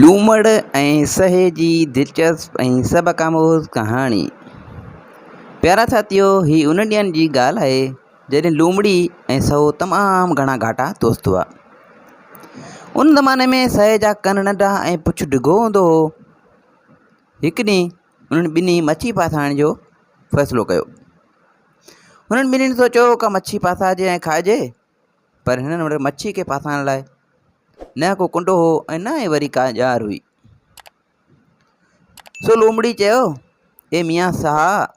لومڙ ۽ سهي جي دلچسپ ۽ سبق آموز ڪهاڻي. پيارا ساٿيو، هي انهن ڏينهن جي ڳالهه آهي، جڏهن لومڙي ۽ سهو تمام گهڻا گهاٽا دوست هئا. ان زماني ۾ سهي جا ڪن ننڍا ۽ پڇ ڊگهو هوندو هو. هڪ ڏينهن انهن ٻنهي مڇي ڦاسائڻ جو فيصلو ڪيو. هنن ٻنهي سوچيو ڪا مڇي ڦاسائجي ۽ کائجي پر هنن وٽ مڇيء کي ڦاسائڻ لاء نه ڪو ڪنڊو هو ۽ نه ئي وري ڪا ڄار هئي. سو لومڙي چيو، اي ميان ساهه،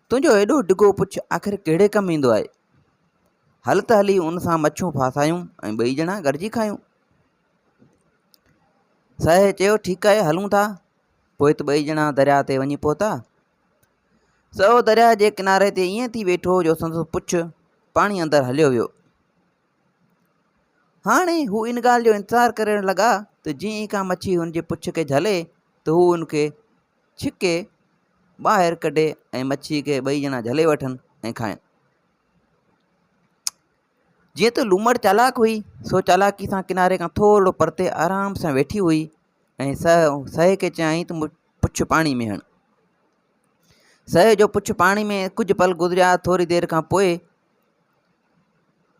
تنهنجو ايڏو ڊگهو پڇ آخر ڪهڙي ڪم ايندو آهي؟ هل ته هلي ان سان مڇون ڦاسايون ۽ ٻئي ڄڻا گڏجي کايون. ساهي چيو، ٺيڪ آهي، هلون ٿا. پوء ته ٻئي ڄڻا درياء تي وڃي پهتا. سو درياهه جي ڪناري تي ائين ٿي ويٺو جو سندس پڇ پاڻي اندر هليو ويو. هاڻي هو ان ڳالهه جو انتظار ڪرڻ لڳا ته جئين ئي ڪا مڇي هن جي پڇ کي جهلي ته هو ان کي ڇڪي ٻاهر ڪڍي ۽ مڇي کي ٻئي ڄڻا جهلي وٺن ۽ کائن. جيئن ته لومڙ چالاڪ هئي، سو چالاڪيء سان ڪناري کان ٿورڙو پرتي آرام سان ويٺي هئي ۽ سهه سهي کي چيائين ته پڇ پاڻي ۾ هڻ. سهي جو پڇ پاڻي ۾ ڪجهه پل گذريا، ٿوري دير کان پوء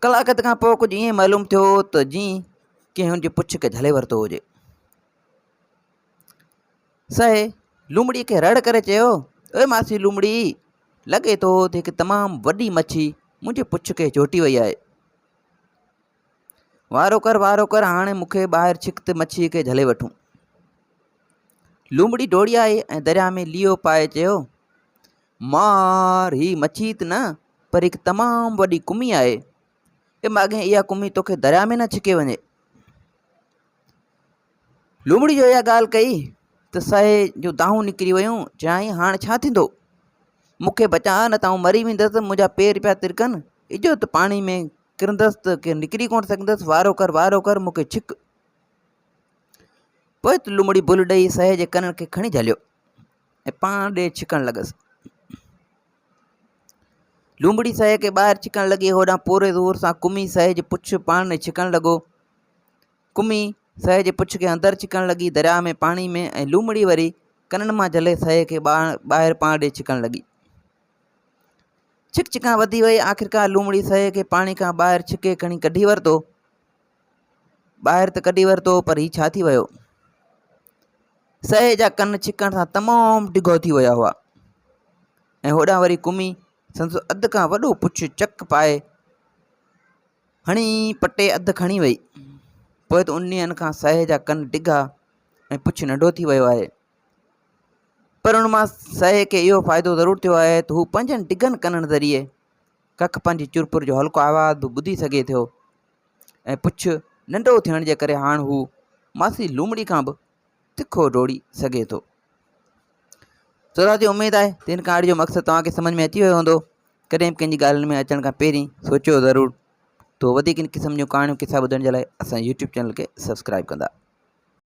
ڪلاڪ اڌ کان پوء ڪجهه ائين معلوم ٿيو ته جيئن ڪنهن هن جي پڇ کي جهلي ورتو هجي. سهي لومڙي کي رڙ ڪري چيو، اي ماسي لومڙي! لڳي ٿو ته هڪ تمام وڏي مڇي منهنجي پڇ کي جهوٽي وئي آهي. وارو ڪر وارو ڪر هاڻي مون کي ٻاهر ڇڪ ته مڇيء کي جهلي وٺون. لومڙي ڊوڙي آئي ۽ درياء ۾ ليئو پائي چيو، مار! هي مڇي ته نه پر هڪ تمام وڏي ڪمي آهي. اي ماڳهين اها ڪمي توکي درياء ۾ نه ڇڪي وڃي. لومڙي جو اها ڳالهه ڪئي ته سهي جو دانهون نڪري ويون چيائين هاڻ ڇا ٿيندو مون کي بچاء نه ته آئون مري ويندس منهنجا پير پيا ترڪن اجهو ته پاڻي ۾ ڪرندس ته ڪي نڪري ڪونه سگهندس وارو ڪر وارو ڪر مون کي ڇڪ پوء ته لومڙي بل ڏئي سهي جي ڪنن کي کڻي جهليو ۽ پاڻ ڏي ڇڪڻ لڳس. لومڙي سهي کي ٻاهر ڇڪڻ لڳي هوڏانهن پوري زور سان ڪمي سهي جي پڇ پاڻ ۾ ڇڪڻ لڳو ڪمي سهي جي پڇ کي اندر ڇڪڻ لڳي درياء ۾ پاڻي ۾ ۽ لومڙي وري ڪنن مان جهلي سهي کي ٻاهر پاڻ ڏي ڇڪڻ لڳي ڇڪ ڇڪان وڌي وئي آخرڪار لومڙي سهي کي پاڻي کان ٻاهر ڇڪي کڻي ڪڍي ورتو ٻاهر ته ڪڍي ورتو پر هي ڇا ٿي ويو؟ سهي جا ڪن ڇڪڻ سان تمام ڊگهو ٿي ويا هئا ۽ هوڏانهن وري ڪمي سندس اڌ کان وڏو پڇ چڪ پائي هڻي پٽي اڌ کڻي وئي پوء ته ان ڏينهن کان سهي جا ڪن ڊگها ۽ پڇ ننڍو ٿي ويو آهي پر ان مان سهي کي اهو فائدو ضرور ٿيو آهي ته هو پنهنجن ڊگهن ڪنن ذريعي ڪک پنهنجي چرپر جو هلڪو آواز به ٻڌي سگهي ٿو ۽ پڇ ننڍو ٿيڻ جي ڪري هاڻ هو ماسي لومڙي کان به تکو ڊوڙي سگهي ٿو سورا جي اميد آهي ته هن ڪهاڻي جو مقصد توهان کي سمجھ ۾ اچي ويو هوندو ڪڏهن به ڪنهنجي ڳالهين ۾ اچڻ کان پهرين سوچيو ضرور تو وڌيڪ ان قسم جون ڪهاڻيون قصا ٻڌڻ جي لاء اسان يوٽيوب چينل کي سبسڪرائب ڪندا